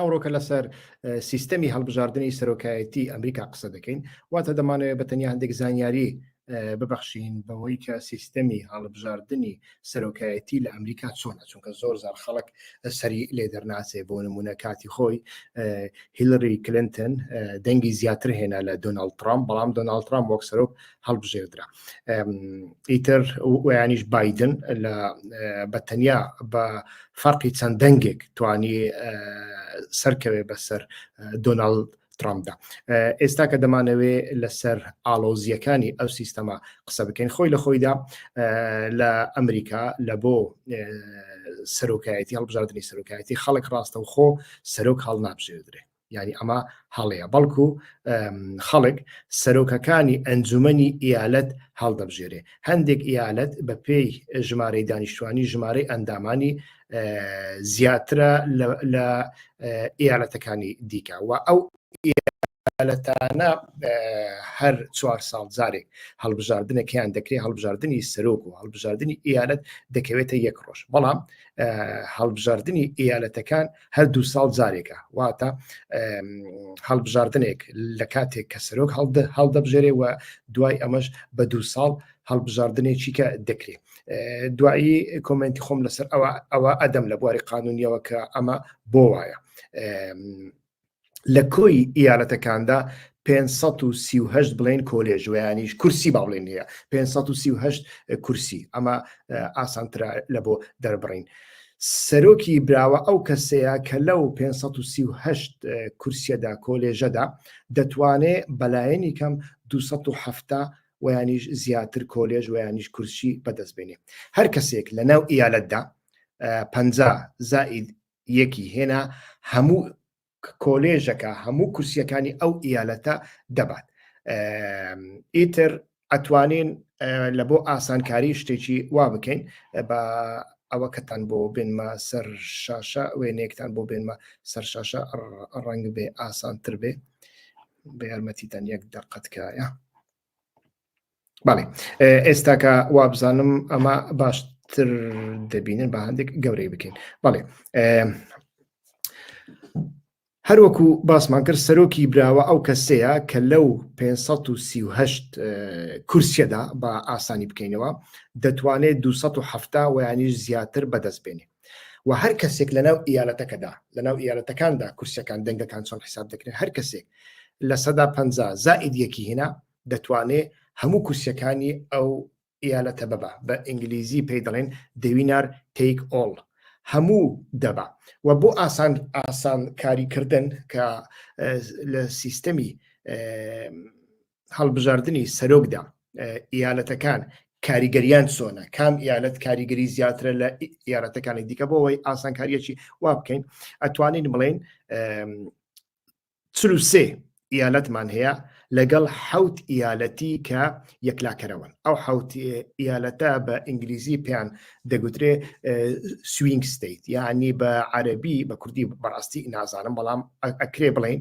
ئەوڕۆکە لەسەر سیستەمی هەڵبژاردنی سەرۆکایەتی ئەمریکا قسە دەکەین واتە دەمانەوە بە تەنیا هەندێک زانیاری ببەخشین بەوەی کە سیستەمی هەڵبژاردنی سەرۆکایەتی لە ئەمریکا چۆنە چونکە زۆر زار خەڵک سەری لێ دەرناسێ بۆ نمونە کاتی خۆی هیلری کلنتن دەنگی زیاتر هێنا لە دۆناالد ترامپ بەڵام دۆناالد ترامپ وەک سەرۆک هەڵبژێردرا ئیتر ویانیش بادن لە بەتەنیا بە فەرقی چەند دەنگێک توانی سەرکەوێ بەسەر دۆناڵ ترامدا ئێستا کە دەمانەوێ لەسەر ئالۆزیەکانی ئەو سیستەما قسە بکەین خۆی لە خۆیدا لە ئەمریکا لە بۆ سەرۆکایەتی هەڵبژاردننی سەرۆکایەتی خەڵک ڕاستەوخۆ سەرۆک هەڵ نابژێدرێت یعنی ئەمە هەڵەیە بەڵکو خەڵک سەرۆکەکانی ئەنجومنی ئیالەت هەڵدەبژێرێ هەندێک ئیالەت بە پێی ژمارەی دانیشتوانی ژمارەی ئەندامانی زیاترە لە ئیالەتەکانی دیکە و ئەو ئیالەتانە هەر چوار ساڵ جارێک هەڵبژاردنەکەیان دەکرێت هەڵبژاردننی سەرۆک و هەڵبژاردننی ئیالەت دەکەوێتە یەک ڕۆژ بەڵام هەڵبژاردننی ئیالەتەکان هەر دوو ساڵ جارێکە واتە هەڵبژاردنێک لە کاتێک کە سەرۆک هەڵدەبژێرێ و دوای ئەمەش بە دوو ساڵ هەڵبژاردنێکی کە دەکرێت دوایی کۆمنتی خۆم لەسەر ئەوە ئەوە ئەدەم لە بواری قانونیەوە کە ئەمە بۆ وایە لە کۆی ئیالەتەکاندا 538 بڵێن کۆلێژ ویانیش کورسی با بڵێن هەیە 538 کورسی ئەمە ئاسانترا لە بۆ دەربڕین. سەرۆکی براوە ئەو کەسەیە کە لەو 538 کورسیەدا کۆلێژەدا دەتوانێ بەلایەنی کەم 270 ویانیش زیاتر کۆلێژ ویانیش کورسی بەدەستبێنێ هەر کەسێک لە ناو ئیالەتدا پ زائید یەکی هێنا هەموو کۆلێژەکە هەموو کورسیەکانی ئەو ئیالەتە دەبات ئیتر ئەتوانین لە بۆ ئاسانکاری شتێکی وا بکەین بە ئەوە کەتان بۆ بێنمە سەر شاشە وێنێکتان بۆ بێنمە سەر شاشە ڕەنگ بێ ئاسانتر بێ بە یارمەتیتان یەک دەقەتکایە بەڵێ ئێستاکە وابزانم ئەمە باشتر دەبینن بە هەندێک گەورەی بکەین بەڵێ هەروەکو باسمان کرد سەرۆکی براوە ئەو کەسەیە کە لەو 538 کورسیەدا بە ئاسانی بکەینەوە دەتوانێت 270 ویانیش زیاتر بەدەست بێنێ و هەر کەسێک لەناو ئیالەتەکەدا لەناو ئیالەتەکاندا کورسەکان دەنگەکان چۆن حساب دەکرێن هەر کەسێک لە سەدا پ زائید یەکی هینا دەتوانێ هەموو کورسەکانی ئەو ئیالەتە بەبا بە ئینگلیزی پێی دەڵێن دەوینار تیک ئۆڵ هەموو دەبا و بۆ ئاسان ئاسان کاریکردن کە لە سیستەمی هەڵبژاردننی سەرۆکدا ئیالەتەکان کاریگەریان چۆنە کام ئیالەت کاریگەری زیاترە لە یارەتەکانی دیکە بۆەوەی ئاسانکاریەکی وا بکەین ئەتوانین بڵێن چلوسێ ئیالەتمان هەیە لەگەڵ حوت ئیالەتی کە یەکلاکەرەوەن ئەو حوت ئیالەتە بە ئینگلیزی پێیان دەگوترێ سوینگ ستیت یعنی بە عەربی بە کوردی بەڕاستی نازانم بەڵام ئەکرێ بڵین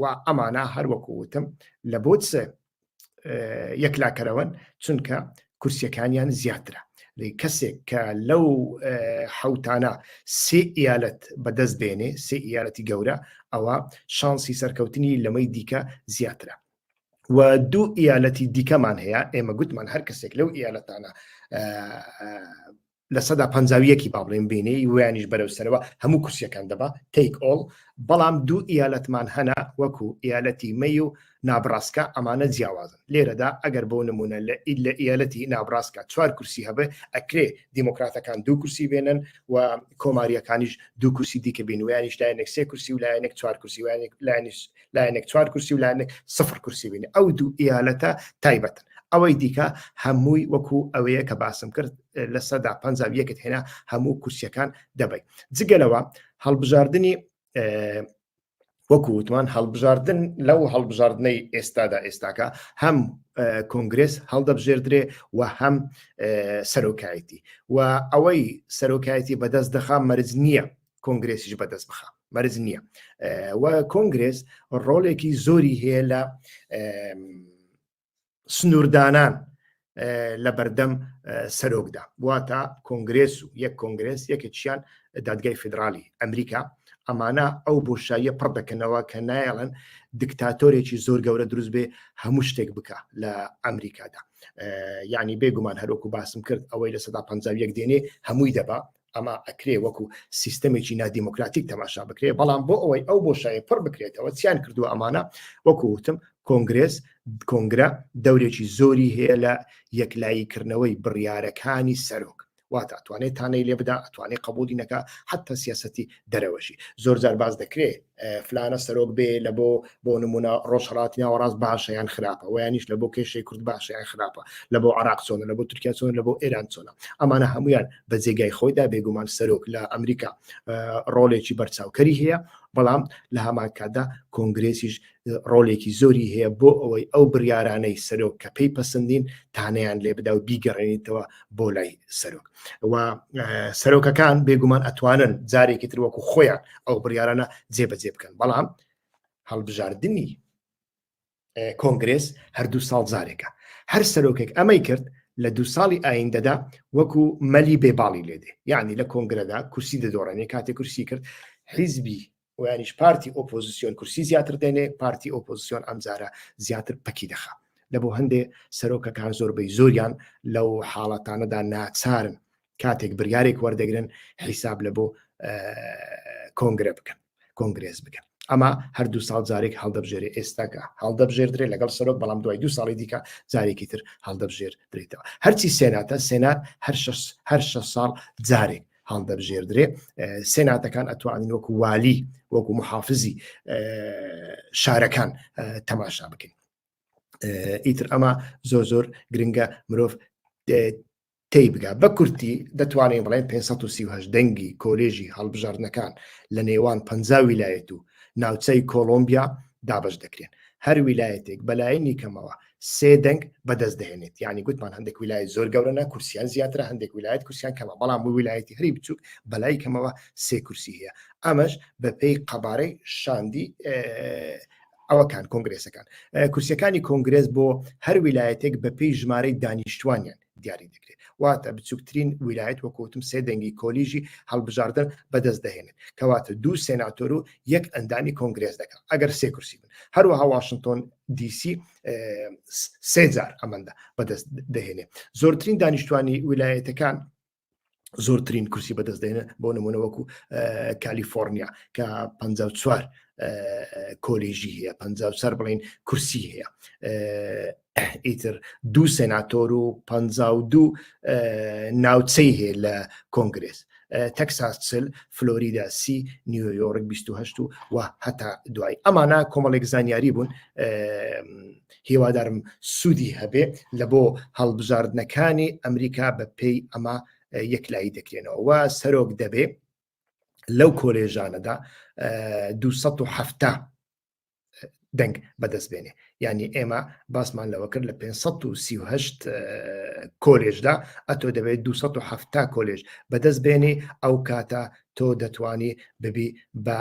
و ئەمانە هەروەکو وتم لە بۆ یەکلاکەرەوەن چونکە کورسیەکانیان زیاترە کەسێک کە لەو حوتانە سێ ئیالەت بەدەست دێنێ سێ ئیالەتی گەورە ئەوە شانسی سەرکەوتنی لەمەی دیکە زیاترە و دوو ئیالەتی دیکەمان هەیە ئێمە گوتمان هەر کەسێک لەو ئیالەتانە لە سەدا پەنجا و یەکی با بڵێین بینی ویانیش بەرەو سەرەوە هەموو کورسیەکان دەبا تەیک ئۆڵ بەڵام دوو ئیالەتمان هەنا وەکو ئیالەتی مەی و نابڕاستکە ئەمانە جیاوازن لێرەدا ئەگەر بۆ نمونە لە ئیل لە ئیالەتی نابڕاستکە چوار کورسی هەبێ ئەکرێ دیموکراتەکان دوو کورسی بێنن و کۆماریەکانیش دوو کورسی دیکە بین ویانیش لایەنێک سێ کورسی و لایەنێک چوار کورسی وانێک لایەنیش لایەنێک چوار کورسی و لایەنێک سفر کورسی بین ئەو دوو ئیالەتە تایبەتن ئەوەی دیکە هەمووی وەکو ئەوەیە کە باسم کرد لە سەدا پ یەکت هێنا هەموو کورسیەکان دەبی جگەلەوە هەڵبژاردننی وەکو وتمان هەڵبژاردن لەو هەڵبژاردنەی ئێستادا ئێستاکە هەم کۆنگرس هەڵدەبژێردرێ و هەم سەرۆکایەتی و ئەوەی سەرۆکایەتی بەدەست دەخا مەرج نییە کۆنگرسیش بەدەست بخە مەرج نییە و کۆنگرس ڕۆلێکی زۆری هەیە لە سنووردانان لە بەردەم سەرۆکدا واتە کۆنگرێس و یەک کۆنگرێس یەکێکیان دادگای فیدراالی ئەمریکا ئەمانە ئەو بۆشاییە پڕ دەکەنەوە کە نایڵن دکتاتۆرێکی زۆر گەورە دروست بێ هەموو شتێک بکە لە ئەمریکادا ینی بێگومان هەرۆکو باسم کرد ئەوەی لە سەدا پ یەک دێنێ هەمووی دەبا ئەمە ئەکرێ وەکو سیستەمێکی نادیموکراتیک تەماشا بکرێ بەڵام بۆ ئەوەی ئەو بۆ شای پڕ بکرێتەوە چیان کردووە ئەمانە وەکو وتم کۆنگرێز کۆنگرە دەورێکی زۆری هەیە لە یەکلاییکردنەوەی بڕیارەکانی سەرۆک واتە ئەتوانێت تانەی لێ بدا ئەتوانێت قبولی نەکە حتا سیاستی دەرەوەشی زۆر زار باز دەکرێت فلانە سەرۆک بێ لە بۆ بۆ نمونە ڕۆژهڵات ناوەڕاست باشە یان خراپە ویانیش لە بۆ کێشەی کورد باشە یان خراپە لە بۆ عراق چۆنە لە بۆ تورکیا چۆن لە بۆ ئێران چۆنە ئەمانە هەمویان بە جێگای خۆیدا بێگومان سەرۆک لە ئەمریکا ڕۆلێکی بەرچاوکەری هەیە بەڵام لە هەمان کاتدا کۆنگرێسیش ڕۆلێکی زۆری هەیە بۆ ئەوەی ئەو بڕارانەی سەرۆک کە پێی پسندین تانیان لێ بدا و بیگەڕێنیتەوە بۆ لای سەرۆک و سەرۆکەکان بێگومان ئەتوانن جارێکی تر وەکو خۆیان ئەو بڕیارانە جێبەجێ بکەن بەڵام هەڵبژاردننی کۆنگرس هەردوو ساڵ جارێکە هەر سەرۆکێک ئەمەی کرد لە دو ساڵی ئایندەدا وەکو مەلی بێباڵی لێدێ یعنی لە کۆنگرەدا کورسی دەدۆڕێنێ کاتێک کورسی کرد حیزبی ویانیش پارتی ئۆپۆزیسیۆن کورسی زیاتر دێنێ پارتی ئۆپۆزیسیۆن ئەمجارە زیاتر پەکی دەخا لە بۆ هەندێ سەرۆکەکان زۆربەی زۆریان لەو حاڵەتانەدا ناچارن کاتێک بریارێک وەردەگرن حیساب لە بۆ کۆنگرە بکەن کۆنگرێز بکەن ئەما هەردوو ساڵ جارێک هەڵدەبژێری ئێستاکە هەڵدەبژێردرێ لەگەڵ سەرۆک بەڵام دوای دو ساڵی دیکە جارێکی تر هەڵدەبژێر درێتەوە هەرچی سێناتە سێنات هەر هەر شە ساڵ جارێک هەڵدەبژێردرێ سێ ناتەکان ئەتوانین وەکو والی وەکو محافزی شارەکان تەماشا بکەین ئیتر ئەمە زۆر زۆر گرنگە مرۆڤ تی بگا بە کورتی دەتوانین بڵێن 530 دەنگی کۆلێژی هەڵبژاردنەکان لە نێوان پ ویلایەت و ناوچەی کۆلمبیا دابش دەکرێن هەر ویلایەتێک بەلایەنی کەمەوە سێ دەنگ بەدەست دەێنێت ینی گوتمان هەندێک ویلای زۆر گەورەە کورسیان زیاتر هەندێک ویلایەت کورسیان کەمە بەڵام بۆ ویلایەتی هەری بچووک بەلای کەمەوە سێ کورسی هەیە ئەمەش بەپێی قەبارەی شاندی ئەوەکان کۆنگرێسەکان کورسەکانی کۆنگرێس بۆ هەر ویلایەتێک بەپی ژمارەی دانیشتوانیان دیاری دەکرێت واتە بچووکترین ویلایەت وەکوتم سێ دەنگی کۆلیژی هەڵبژاردن بەدەست دەهێنێت کەواتە دوو سێناتۆر و یەک ئەندامی کۆنگرێز دەکەن ئەگەر سێ کورسی بن هەروەها واشنگتۆن دیسی سێجار ئەمەندە بەدەست دەهێنێت زۆرترین دانیشتوانی ویلایەتەکان زۆرترین کورسی بەدەست دێنە بۆ نمونە وەکو کالیفۆرنیا کە 54 کۆلیژی هەیە پ سەر بڵین کورسی هەیە ئیتر دوو سناتۆر و پ دوو ناوچەی هەیە لە کۆنگرس تەکساس چل فلۆریدا سی نیویۆرک 28 و هەتا دوای ئەمانە کۆمەڵێک زانیاری بوون هیوادارم سوودی هەبێ لە بۆ هەڵبژاردنەکانی ئەمریکا بە پێی ئەمە یەکلایی دەکرێنەوە و سەرۆک دەبێ لەو کۆلێژانەدا 1970 دەنگ بەدەست بێنێ ینی ئێمە باسمان لەوە کرد لە 538 کۆلێژدا ئەتۆ دەبێت 270 کۆلێژ بەدەست بێنێ ئەو کاتە تۆ دەتوانی ببی بە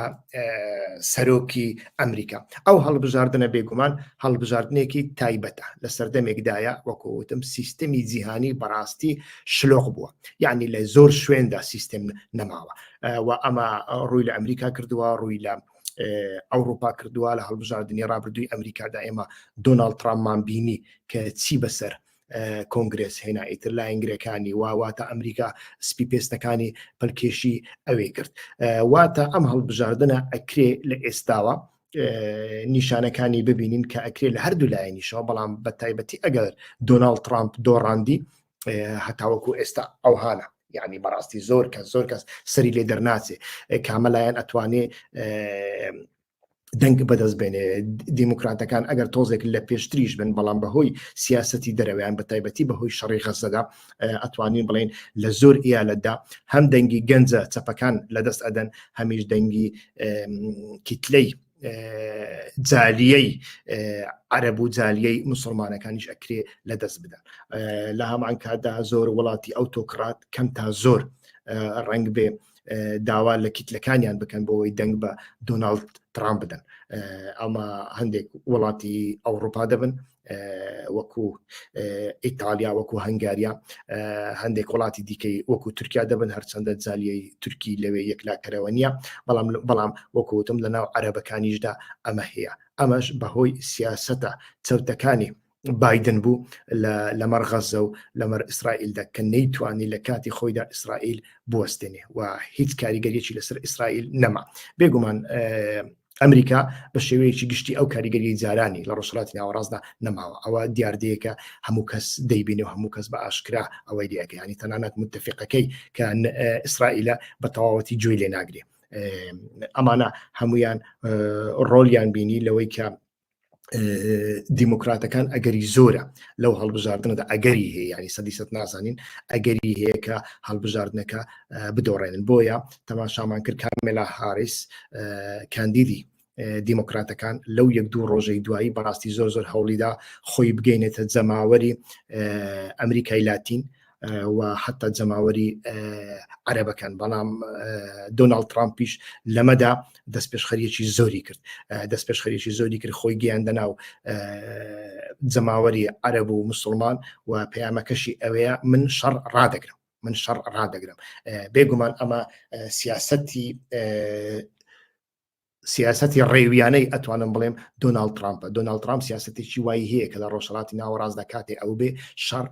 سەرۆکی ئەمریکا ئەو هەڵبژاردنە بێگومان هەڵبژاردنێکی تایبەتە لە سەردەمێکدایە وەکوتم سیستەمی جیهانی بەڕاستی شلۆق بووە یعنی لە زۆر شوێندا سیستم نەماوە و ئەمە ڕووی لە ئەمریکا کردووە ڕووی لە ئەوروپا کردووە لە هەڵبژاردننی ڕابردووی ئەمریکادا ئێمە دۆناڵ تراممان بینی کە چی بەسەر کۆنگرێس هێنا ئیتر لاین گرەکانی وا واتە ئەمریکا سپی پێستەکانی پلکێشی ئەوێ کرد واتە ئەم هەڵبژاردنە ئەکرێ لە ئێستاوە نیشانەکانی ببینین کە ئەکرێ لە هەردوو لایەنیشەوە بەڵام بە تایبەتی ئەگەر دۆناڵ ترامپ دۆڕاندی هەتاوەکو ئێستا ئەو هاانە یعنی بەڕاستی زۆر کە زۆر کەس سەری لێ دەرناچێ کامەلایەن ئەتوانێ دەنگ بەدەست بێنێ دیموکراتەکان ئەگەر تۆزێک لە پێشتریش بن بەڵام بەهۆی سیاستی دەرەوەیان بە تایبەتی بەهۆی شەڕی غەزەدا ئەتوانین بڵین لە زۆر ئیالەتدا هەم دەنگی گەنجە چەپەکان لە دەست ئەدەن هەمیش دەنگی کیتلەی جالیەی عەرب و جالیەی مسلمانەکانیش ئەکرێ لە دەست بدەن لە هەمان کاتدا زۆر وڵاتی ئەو تۆکڕات کەم تا زۆر ڕنگ بێ داوا لە کیتلەکانیان بکەن بۆەوەی دەنگ بە دۆناالد ترامپ بدەن ئەمە هەندێک وڵاتی ئەوروپا دەبن وەکو ئیتالیا وەکو هەنگاریا هەندێک وڵاتی دیکەی وەکو تورکیا دەبن هەرچەندە جالیی تورکی لەوێ یەکلاکەرەوە نییە بەڵام بەڵام وەکوتم لە ناو عەرەبەکانیشدا ئەمە هەیە ئەمەش بەهۆی سیاستە چەوتەکانی بادن بوو لەمەڕ غەزە و لەمەەر ئیسرائیلدا کە نەیتوانی لە کاتی خۆیدا ئیسرائیل بستێنێ و هیچ کاریگەریی لەسەر ئیسرائیل نەما بێگومان ئەمریکا بە شێوەیەکی گشتی ئەو کاریگەری جارانی لە ڕۆژهڵاتی ناوەڕاستدا نەماوە ئەوە دیاردەیەکە هەموو کەس دەیبینێ و هەموو کەس بە ئاشکرا ئەوەی دیەکەیانی تەنانەت متتەفقەکەی کە ئیسرائیلە بە تەواوەتی جوێی لێ ناگرێ ئەمانە هەمویان ڕۆلیان بینی لەوەی کە دیموکراتەکان ئەگەری زۆرە لەو هەڵبژاردنەدا ئەگەری هەیە ینی سەدی سە نازانین ئەگەری هەیە کە هەڵبژاردنەکە بدۆڕێنن بۆیە تەماشامان کرد کامێلا هاریس کاندیدی دیموکراتەکان لەو یەک دوو ڕۆژەی دوایی بەڕاستی زۆر زۆر هەوڵیدا خۆی بگەینێتە جەماوەری ئەمریکای لاتین و حتا جەماوەری عەرەبەکان بەڵام دۆناڵد ترامپیش لەمەدا دەست پێشخەریەکی زۆری کرد دەست پێشخەریەکی زۆری کرد خۆی گەیاندە ناو جەماوەری عەرەب و مسلمان و پەیامەکەشی ئەوەیە من شەڕ ڕادەگرم من شەڕ ڕادەگرم بێگومان ئەمە سیاستی سیاستی ڕێویانەی ئەتوانم بڵێم دۆناالد ترامپ دۆناالد ترامپ سیاستێکی وای هەیە کە لە ڕۆژهڵاتی ناوەڕاست دەکاتێ ئەو بێ شەڕ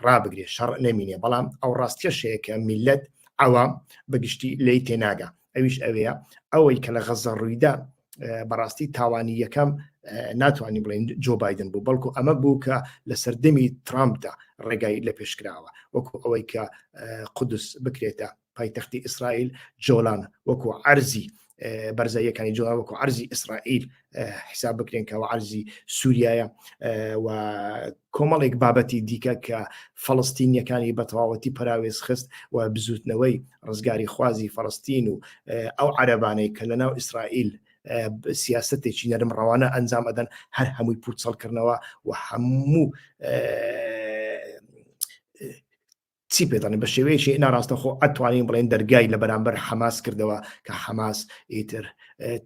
ڕابگرێ شەڕ نەمینێ بەڵام ئەو ڕاستیەشەیە کە میلەت ئەوام بەگشتی لی تێناگە ئەویش ئەوەیە ئەوەی کە لە غەزە ڕوویدا بەڕاستی تاوانی یەکەم ناتوانانی بڵێن جۆ بادن بوو بەڵکو ئەمە بوو کە لە سەردەمی ترامپدا ڕێگای لە پێشکراوە وەکو ئەوەی کە قودس بکرێتە پایتەختی ئیسرائیل جۆلان وەکو عەرزی بەرزاییەکانی جۆ وەکو عەرزی ئیسرائیل حساب بکرێن کەەوە عەرزی سووریایە و کۆمەڵێک بابەتی دیکە کە فەڵستینیەکانی بە تەواوەتی پراوێز خست و بزوتنەوەی ڕزگاری خوازی فەڵستین و ئەو عەربانەی کە لە ناو ئیسرائیل سیاستێکی نەرم ڕەوانە ئەنجام ئەدەن هەر هەمووی پوچەڵکردنەوە و هەموو چی پێتانی بە شێوەیەکی ناراستەخۆ ئەتوانین بڵێن دەرگای لە بەرامبەر حەماس کردەوە کە حەماس ئیتر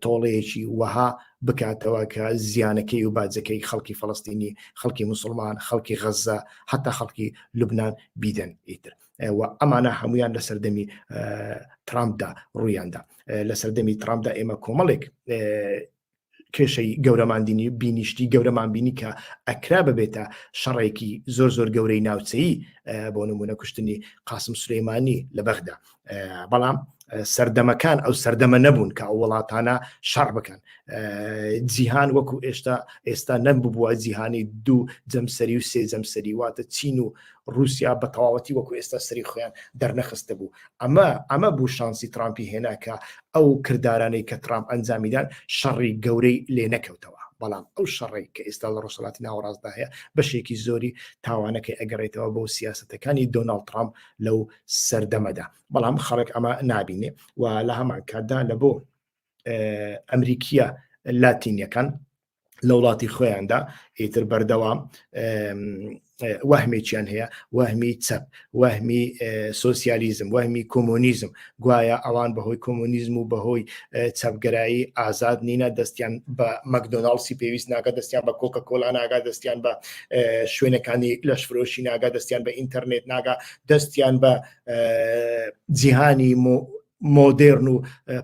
تۆڵەیەکی وەها بکاتەوە کە زیانەکەی و باجەکەی خەڵکی فلستینی خەڵکی مسلمان خەڵکی غەزە حتا خەڵکی لوبناان بیدەن ئیتر ئەمانە هەمویان لە سەردەمی ترامپدا ڕوویاندا لە سەردەمی ترامپدا ئێمە کۆمەڵێک کێشەی گەورەمان بینی شتی گەورەمان بینی کە ئەکرا ببێتە شەڕێکی زۆر زۆر گەورەی ناوچەیی بۆ نمونە کوشتنی قاسم سلەیمانی لە بەغدا بەڵام سەردەمەکان ئەو سەردەمە نەبوون کە ئەو وڵاتانە شەڕ بکەن جیهان وەکو ئێشتا ئێستا نەم ببووە جیهانی دوو جەمسەری و سێ جەمسەری واتە چین و ڕوسیا بە تەواوەتی وەکو ئێستا سەری خۆیان دەرنەخستە بوو ئەمە ئەمە بوو شانسی ترامپی هێناکە ئەو کردارانەی کە ترامپ ئەنجامیدان شەڕی گەورەی لێ نەکەوتەوە بەڵام ئەو شەڕی کە ئێستا لە ڕۆژهڵاتی ناوەڕاستدا هەیە بەشێکی زۆری تاوانەکەی ئەگەڕێتەوە بۆ سیاستەکانی دۆناڵ ترامپ لەو سەردەمەدا بەڵام خەڵک ئەمە نابینێ و لە هەمان کاتدا لە بۆ ئەمریکیە لاتینیەکان لە وڵاتی خۆیاندا ئیتر بەردەوام وەهمێکیان هەیە وەهمی چەپ وەهمی سوسیالیزم وەهمی کۆمۆنیزم گوایە ئەوان بەهۆی کۆمۆنیزم و بەهۆی چەپگەرایی ئازاد نینە دەستیان بە مەکدۆناڵسی پێویست ناگە دەستیان بە کۆکە کۆلا ناگا دەستیان بە شوێنەکانی لەش فرۆشی ناگا دەستیان بە ئینتەرنێت ناگا دەستیان بە جیهانی مۆدێرن و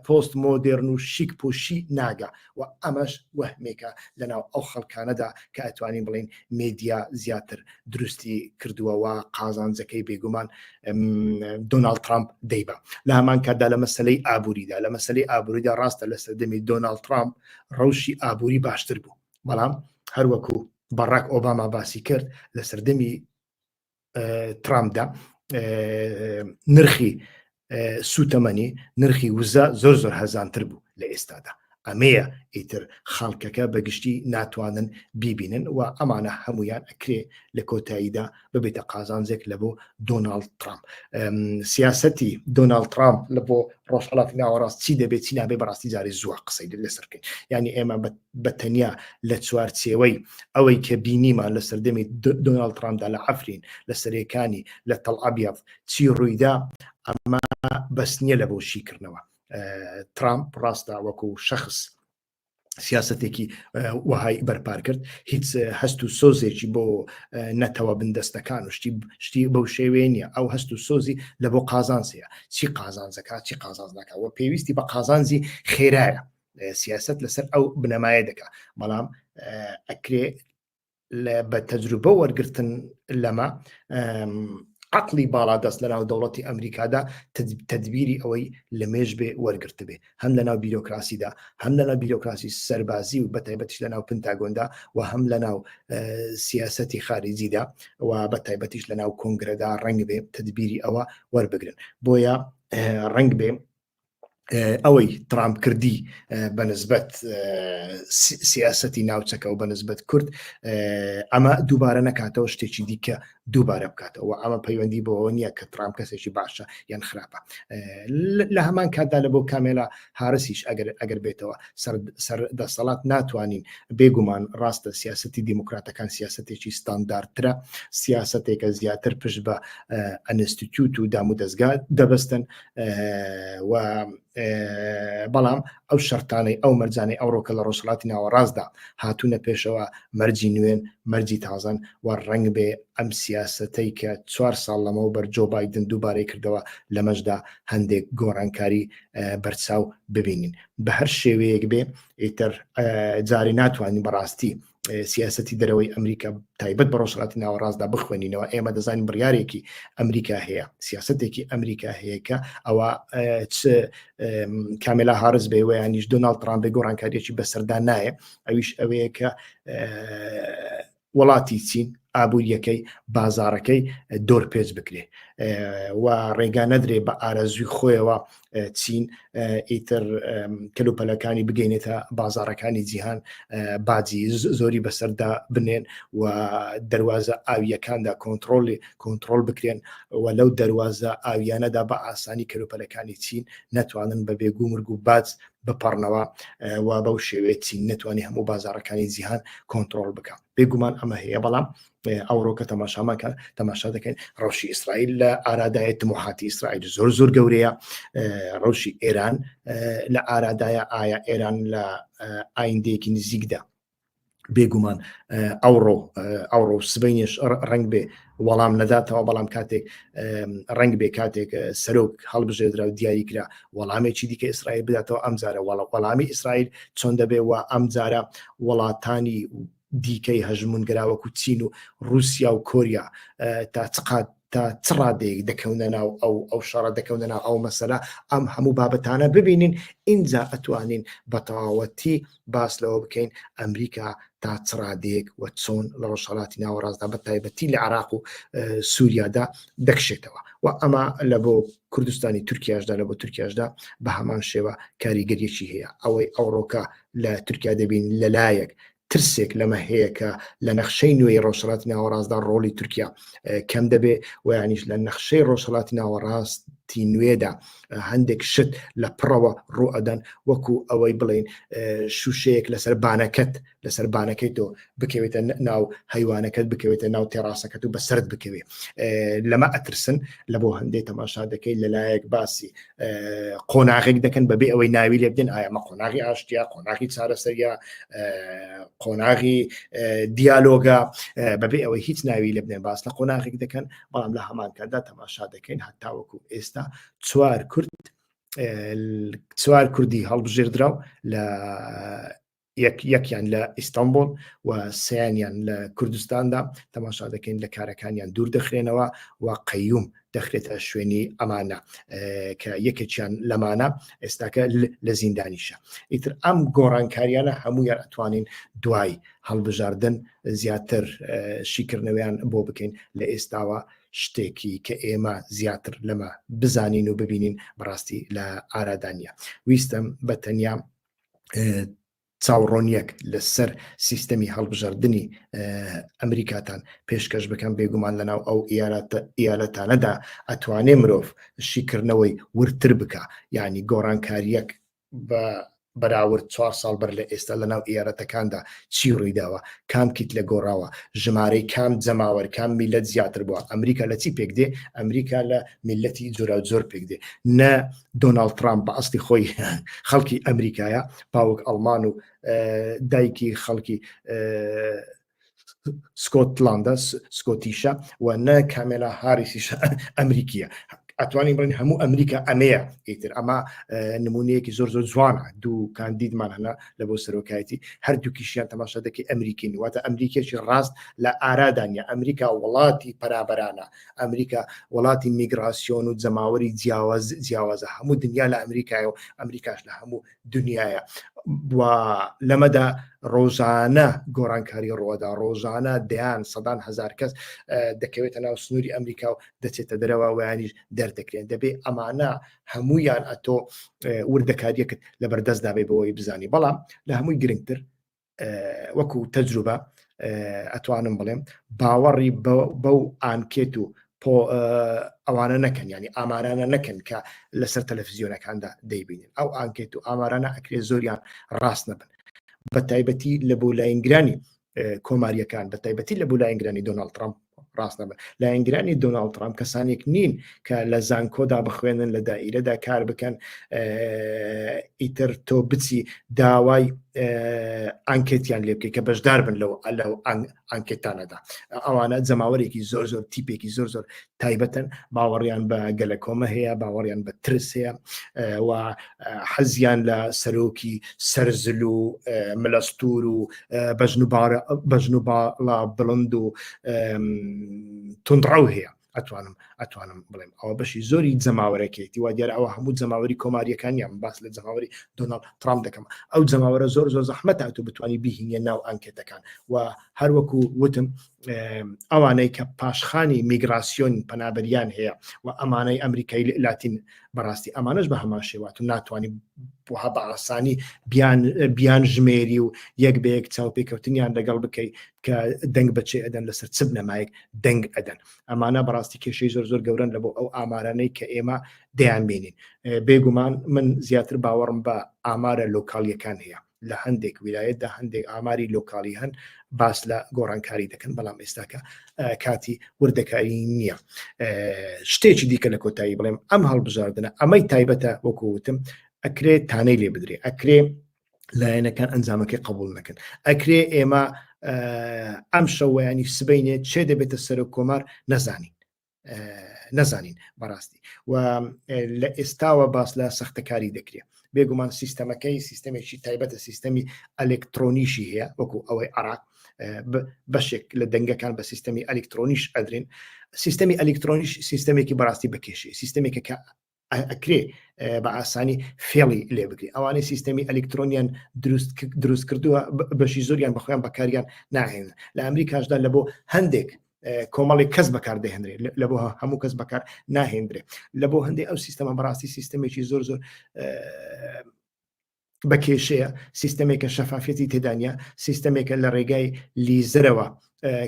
پۆست مۆدێرن و شیک پوشی ناگا و ئەمەش وەهمێکە لە ناو ئەو خەڵکانەدا کە ئەتوانین بڵێین مێدیا زیاتر دروستی کردووە و قازانجەکەی بێگومان دۆناڵد ترامپ دەیبا لە هەمان کاتدا لە مەسلەی ئابووریدا لە مەسلەی ئابووریدا ڕاستە لە سەردەمی دۆناڵد ترامپ ڕەوشی ئابووری باشتر بوو بەڵام هەروەکو بەڕک ئۆباما باسی کرد لە سەردەمی ترامپدا نرخی سوتەمەنی نرخی وزە زۆر زۆر هەزانتر بوو لە ئێستادا ئەمەیە ئیتر خەڵکەکە بەگشتی ناتوانن بیبینن و ئەمانە هەمویان ئەکرێ لە کۆتاییدا ببێتە قازانجێک لە بۆ دۆناالد ترامپ سیاستی دۆناالد ترامپ لە بۆ ڕۆژهڵاتی ناوەڕاست چی دەبێت چی نابێ بەڕاستی جاری زووە قسەی لەسەر بکەین ینی ئێمە بە بە تەنیا لە چوارچێوەی ئەوەی کە بینیمان لە سەردەمی دۆناڵد ترامپدا لە عەفرین لە سەرێکانی لە تەڵ ئەبیەض چی ڕوویدا ئەمە بەس نییە لە بۆ شیکردنەوە ترامپ ڕاستە وەکو شەخص سیاستێکی وهای بەرپار کرد هیچ هەست و سۆزێکی بۆ نەتەوە بندەستەکان و شتی شتی بەو شێوێ نیە ئەو هەست و سۆزی لە بۆ قازانسەیە چی قازانزەکە چی قازانز ناکەەوە پێویستی بە قازانزی خێرایە سیاست لەسەر ئەو بنەمایە دەکا بەڵام ئەکرێ بە تەجروبە وەرگتن لەمە عقلی باڵا دەست لە ناو دەوڵەتی ئەمریکادا تدبیری ئەوەی لە مێژ بێ وەرگرت بێ هەم لە ناو بیرۆکراسیدا هەم لە ناو بیرۆکراسی سەربازی و بەتایبەتیش لە ناو پنتاگۆندا و هەم لە ناو سیاستی خارجیدا و بە تایبەتیش لە ناو کۆنگرەدا ڕنگ بێ تدبیری ئەوە وەربگرن بۆیە ڕنگ بێ ئەوەی ترامپ کردی بە نسبەت سیاستی ناوچەکە و بە نسبەت کورد ئەمە دووبارە نەکاتەوە شتێکی دیکە دووبارە بکاتەوە ئەمە پەیوەندی بۆەوە نییە کە ترام کەسێکی باشە یان خراپە لە هەمان کاتدا لە بۆ کامێلا هارسیش ئەگەر ئەگەر بێتەوە سەر دەسەڵات ناتوانین بێگومان ڕاستە سیاستی دیموکراتەکان سیاستێکی ستانداردترە سیاستێکە زیاتر پشت بە ئەنستیتوت و دام و دەستگا دەبستن و بەڵام ئەو شەرتانەی ئەو مەرجانەی ئەوڕۆکە لە ڕۆژهڵاتی ناوەڕاستدا هاتوونە پێشەوە مەرجی نوێن مەرجی تازەن و ڕنگ بێ ئەم سیاستەی کە چوار ساڵ لەمەوە بەرجۆ بادن دووبارەی کردەوە لەمەشدا هەندێک گۆڕانکاری بەرچاو ببینین بە هەر شێوەیەک بێ ئیتر جارێ ناتوانین بەڕاستی سیاستی دەرەوەی ئەمریکا تایبەت بە ڕۆژهاتی ناوەڕاستدا بخوێنینەوە ئێمە دەزانین بڕارێکی ئەمریکا هەیە سیاستێکی ئەمریکا هەیەکە ئەوە چ کاملا هارز بێ ویانیش دۆناالد ترامبێ گۆڕانکاریێکی بەسەردا نایە ئەویش ئەوەیە کە وڵاتی چین ئابوووریەکەی بازارەکەی دۆر پێچ بکرێ و ڕێگا نەدرێ بە ئارەزوی خۆیەوە چین ئیتر کەلوپەلەکانی بگەینێتە بازارەکانی جیهان باجی زۆری بەسەردا بنێن و دەواازە ئاویەکاندا کۆنتترۆلی کۆنتترۆل بکرێن و لەو دەواازە ئاویانەدا بە ئاسانی کەلوپەلەکانی چین ناتوانن بە بێگو مرگ و باج بپەڕنەوە و بەو شێوێت چین نتوانانی هەموو بازارەکانی جیهان کۆنتترۆل بکە بێگومان ئەمە هەیە بەڵام ئەوڕۆ کە تەماشامان کە تەماشا دەکەین ڕەوشی ئیسرائیل لە ئارادایە تموحاتی ئیسرائیل زۆر زۆر گەورەیە ڕەوشی ئێران لە ئارادایە ئایا ئێران لە ئایندەیەکی نزیکدا بێگومان ئەوڕۆ ئەوڕۆ سبینش ڕنگ بێ وەڵام نەداتەوە بەڵام کاتێک ڕنگ بێ کاتێک سەرۆک هەڵبژێدرا و دیاری کرا وەڵامێکی دیکە ئیسرائیل بداتەوە ئەمجارە وەڵامی ئیسرائیل چۆن دەبێ و ئەمجارە وڵاتانی دیکەی هەژموونگرا وەکو چین و رووسیا و کۆریا تا چ قات تا چ ڕادەیەک دەکەونە ناو ئەو ئەو شەڕە دەکەونە ناو ئەو مەسەلە ئەم هەموو بابەتانە ببینین ئینجا ئەتوانین بە تەواوەتی باس لەوە بکەین ئەمریکا تا چ ڕادەیەک و چۆن لە ڕۆژهەڵاتی ناوەڕاستدا بە تایبەتی لە عراق و سووریادا دەکشێتەوە و ئەمە لە بۆ کوردستانی تورکیاشدا لە بۆ تورکیاشدا بە هەمان شێوە کاریگەریەکی هەیە ئەوەی ئەوڕۆکە لە تورکیا دەبین لەلایەک ترسێک لەمە هەیە کە لە نەخشەی نوێی ڕۆژهڵات ناوەڕاستدا ڕۆڵی تورکیا کەم دەبێ ویانیش لە نەخشەی ڕۆژهڵات ناوەڕاستی نوێدا هەندێک شت لە پڕەوە ڕوئەدەن وەکو ئەوەی بڵین شوشەیەک لەسەر بانەکەت لەسەر بانەکەی تۆ بکەوێتە ناو هەیوانەکەت بکەوێتە ناو تێڕاستەکەت و بە سرد بکەوێ لەمە ئەترسن لە بۆ هەندێک تەماشا دەکەیت لەلایەک باسی قۆناغێک دەکەن بەبێ ئەوەی ناوی لێ بدەن ئایەمە قۆناغی ئاشتیا قۆناغی چارەسەریا قۆناغی دیالۆگا بەبێ ئەوەی هیچ ناوی لە بدەن باس لە قۆناغێک دەکەن بەڵام لە هەمانکاتدا تەماشا دەکەین هەتاوەکو ئێستا چوار کورد چوار کوردی هەڵبژێردراو لە یەک یەکیان لە ئیستانبول و سیانیان لە کوردستاندا تەماشا دەکەین لە کارەکانیان دوور دەخرێنەوە و قەیوم دەخرێتە شوێنی ئەمانە کە یەکێکیان لەمانە ئێستاکە لە زیندانیشە ئیتر ئەم گۆڕانکاریانە هەموویان ئەتوانین دوای هەڵبژاردن زیاتر شیکردنەوەیان بۆ بکەین لە ئێستاوە شتێکی کە ئێمە زیاتر لەمە بزانین و ببینین بەڕاستی لە ئارادانە ویستم بە تەنیا چاوڕۆنیەک لەسەر سیستەمی هەڵبژاردننی ئەمریکاتان پێشکەش بکەم بێگومان لەناو ئەو ئیالەتانەدا ئەتوانێ مرۆڤ شیکردنەوەی ورتر بکە یعنی گۆڕانکاریەک بە بەراورد چوار ساڵ بەر لە ئێستا لە ناو ئێارەتەکاندا چی ڕوویداوە کام کیت لە گۆڕاوە ژمارەی کام جەماوەر کام میلەت زیاتر بووە ئەمریکا لە چی پێک دێ ئەمریکا لە میلەتی جۆرا زۆر پێک دێ نە دۆناڵد ترامپ بە ئەستی خۆی خەڵکی ئەمریکایە باوک ئەڵمان و دایکی خەڵکی سکۆتلاندە سکۆتیشە و نە کامێلا هاریسیش ئەمریکیە ئەتوانی بڵین هەموو ئەمریکا ئەمەیە ئیتر ئەمە نمونەیەکی زۆر زۆر جوانە دوو کاندیدمان هەنا لە بۆ سەرۆکایەتی هەردووکیشیان تەماشا دەکەی ئەمریکین واتە ئەمریکێکی ڕاست لە ئارادانە ئەمریکا وڵاتی پەرابرانە ئەمریکا وڵاتی میگراسیۆن و جەماوەری جیاواز جیاوازە هەموو دنیا لە ئەمریکای و ئەمریکاش لە هەموو دنیاە لەمەدا ڕۆژانە گۆرانکاری ڕۆدا ڕۆژانە دەیان سەدان هزار کەس دەکەوێتە ناو سنووری ئەمریکا و دەچێتە دەرەوە ویانیش دەردەکرێن دەبێ ئەمانە هەمویان ئەتۆ وردەکاریەکت لە بەردەستدا بێ بەوەی بزانی بەڵام لە هەمووی گرنگتر وەکو تەجروبە ئەتوانم بڵێم باوەڕی بەو ئانکێت و ئەوانە نەکەن ینی ئامارانە نەکەن کە لەسەر تەلەفزیۆنەکاندا دەیبینن ئەو ئانکێت و ئامارانە ئەکرێ زۆریان ڕاست نەبن بە تایبەتی لە بۆ لاینگرانی کۆماریەکان بە تایبەتی لە بۆ لاینگرانی دۆناڵد ترامپ ڕاستە بە لایەنگرانی دۆناڵد ترامپ کەسانێک نین کە لە زانکۆدا بخوێنن لە دایرەدا کار بکەن ئیتر تۆ بچی داوای ئەنکێتیان لێ بکەیت کە بەشدار بن لەو لە ئەنکێتانەدا ئەوانە جەماوەرێکی زۆر زۆر تیپێکی زۆر زۆر تایبەتن باوەڕیان بە گەلە کۆمە هەیە باوەڕیان بە ترس هەیە و حەزیان لە سەرۆکی سەرزل و ملەستور و بەژن و باڵا بڵند و تونڕەو هەیە ئەتوانم ئەتوانم بڵێم ئەوە بەشی زۆری جەماوەەکەیتی وا دیار ئەوە هەموو جەماوەری کۆماریەکانیان باس لە جەماوەری دۆناڵ ترام دەکەم ئەو جەماوەرە زۆر زۆر زەحمەت ئەتو بتانی بهینە ناو ئەنکێتەکان و هەروەکو وتم ئەوانەی کە پاشخانی میگراسیۆن پەنابەریان هەیە و ئەمانەی ئەمریکای لاتین بەڕاستی ئەمانش بە هەمان شێوات و ناتوانانی بها بە ئاسانی بیان ژمێری و یەک بە یەک چاوپێکەوتنیان دەگەڵ بکەیت کە دەنگ بچێ ئەدەن لەسەر چ بنەمایەک دەنگ ئەدەن ئەمانە بەڕاستی کێشەی زۆر زۆر گەورن لە بۆ ئەو ئامارانەی کە ئێمە دەیان بینین بێگومان من زیاتر باوەڕم بە ئامارە لۆکالیەکان هەیە لە هەندێک ویلایەتدا هەندێک ئاماری لۆکالی هەن باس لە گۆڕانکاری دەکەن بەڵام ئێستاکە کاتی وردەکاری نییە شتێکی دیکە لە کۆتایی بڵێم ئەم هەڵبژاردنە ئەمەی تایبەتە وەکوتم ئەکرێ تانەی لێ بدرێ ئەکرێ لایەنەکان ئەنجامەکەی قبول نەکەن ئەکرێ ئێمە ئەم شەوەیانی سبینێ چێ دەبێتە سەر و کۆمار نەزانین نەزانین بەڕاستی و لە ئێستاوە باس لە سەختەکاری دەکرێت بێگومان سیستەمەکەی سیستەمێکی تایبەتە سیستەمی ئەلکترۆنیشی هەیە وەکو ئەوەی عراق بەشێک لە دەنگەکان بە سیستەمی ئەلکترۆنیش ئەدرێن سیستەمی ئەلکترۆنیش سیستەمێکی بەڕاستی بەکێشی سیستەمێکە کە ئەکرێ بە ئاسانی فێڵی لێ بگری ئەوانەی سیستەمی ئەلکترۆنیان دروست کردووە بەشی زۆریان بەخۆیان بەکاریان ناهێن لە ئەمریکاشدا لە بۆ هەندێک کۆمەڵی کەس بەکار دەهێنرێت لە بۆ هەموو کەس بەکار ناهێنرێت لە بۆ هەندێک ئەو سیستەمە بەڕاستی سیستەمێکی زۆر زۆر بە کێشەیە سیستەمێکە شەفافەتی تێدانە سیستەمێکە لە ڕێگای لیزرەوە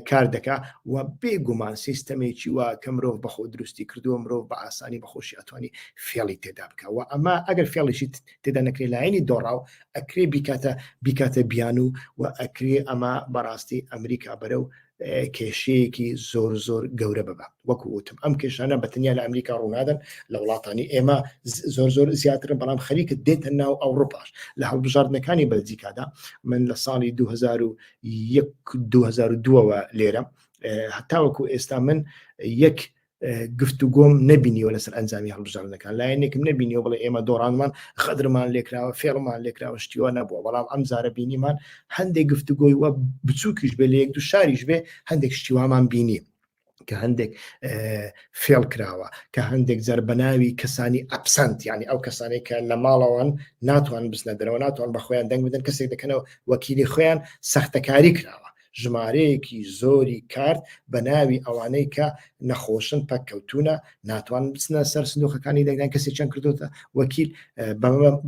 کار دەکا و بێگومان سیستەمێکی وا کە مرۆڤ بەخۆ دروستی کردووە مرۆڤ بە ئاسانی بەخۆشی ئەتوانی فێڵی تێدا بکە و ئەمە ئەگەر فێڵیشی تێدا نەکرێ لایەنی دۆڕاو ئەکرێ بیکاتە بیکاتە بیان و و ئەکرێ ئەمە بەڕاستی ئەمریکا بەرە و کێشەیەکی زۆر زۆر گەورە ببە وەکو وتم ئەم کێشانە بە تەنیا لە ئەمریکا ڕوونادەن لە وڵاتانی ئێمە زۆر زۆر زیاترن بەڵام خەریکە دێتە ناو ئەوروپاش لە هەڵبژاردنەکانی بەلجیکادا من لە ساڵی 2002ەوە لێرە هەتاوەکو ئێستا من یەک گفتوگۆم نەبینیوە لەسەر ئەنجامی هەڵبژاردنەکان لایەنێکم نبینیەوە بڵێ ئێمە دۆڕانمان خەدرمان لێکراوە فێڵمان لێکراوە شتیوە نەبووە بەڵام ئەم زارە بینیمان هەندێک گفتوگۆی وە بچووکیش بێ لە یەک دو شاریش بێ هەندێک شتیوامان بینی کە هەندێک فێڵ کراوە کە هەندێک جەر بەناوی کەسانی ئەپسەند ینی ئەو کەسانێک کە لە ماڵەوەن ناتوان بزنە دەرەوە ناتوان بە خۆیان دەنگ بدەن کەسێک دەکەنەوە وەکیلی خۆیان سەختەکاری کراوە ژمارەیەکی زۆری کارت بە ناوی ئەوانەی کە نەخۆشن پەک کەوتونە ناتوان بچنە سەر سندۆخەکانی دەنگدان کەسی چەند کردوتە وەکیل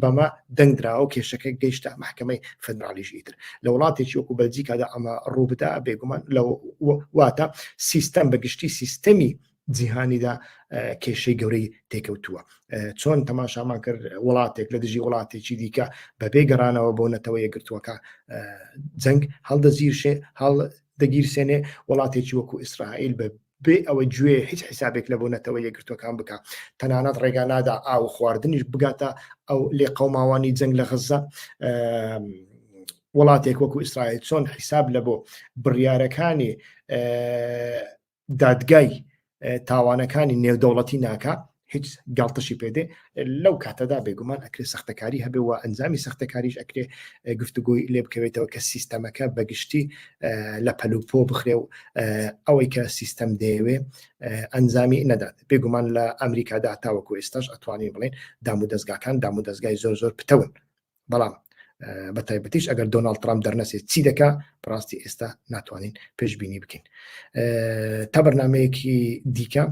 بەمە دەنگدراوە و کێشەکە گەیشتە محکمەی فەدرالیش ئیتر لە وڵاتێکی وەکو بەلجیکادا ئەمە ڕووبدا بێگومان لە واتە سیستەم بەگشتی سیستەمی جیهانیدا کێشەی گەورەی تێکەوتووە چۆن تەماشامان کرد وڵاتێک لە دژی وڵاتێکی دیکە بەبێ گەڕانەوە بۆ نەتەوە یەگرتووەکە جەنگ هەڵدەزیرشێ هەڵ دەگیرسێنێ وڵاتێکی وەکو ئیسرائیل بە بێ ئەوە گوێ هیچ حیسابێک لە بۆ نەتەوە یەگرتوەکان بکە تەنانەت ڕێگا نادا ئاو خواردنیش بگاتە ئەو لێ قەوماوانی جەنگ لە غزە وڵاتێک وەکو ئیسرائیل چۆن حیساب لە بۆ بڕیارەکانی دادگای تاوانەکانی نێودەوڵەتی ناکە هیچ گڵتشی پێدێ لەو کاتەدا بێگومان ئەکرێ سەختەکاری هەبێ و ئەنجامی سەختەکاریش ئەکرێ گفتوگوی لێ بکەوێتەوە کە سیستەمەکە بەگشتی لە پەلوپۆ بخرێ و ئەوەی کە سیستەم دەیەوێ ئەنجامی نەدات بێگومان لە ئەمریکادا تاوەکو ئێستاش ئەتوانین بڵێن دام و دەستگاکان دام و دەستگای زۆر زۆر پتەون بەڵام بە تایبەتیش ئەگەر دۆناڵد ترام دەرنەسێت چی دەکا بڕاستی ئێستا ناتوانین پێشببینی بکەین تا بەرنمەیەکی دیکە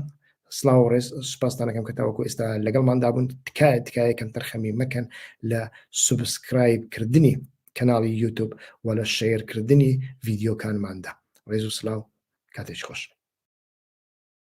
سلااو ڕێز سوپاستانەکەم کە تاوەکو ئێستا لەگەڵماندابوون تکایە تکایە کەم تەرخەمی مەکەن لە سوبسکرایب کردنی کەناڵی یوتوب و لە شەیرکردنی ڤیددیوکانماندا ڕێز و سلااو کاتێک خۆش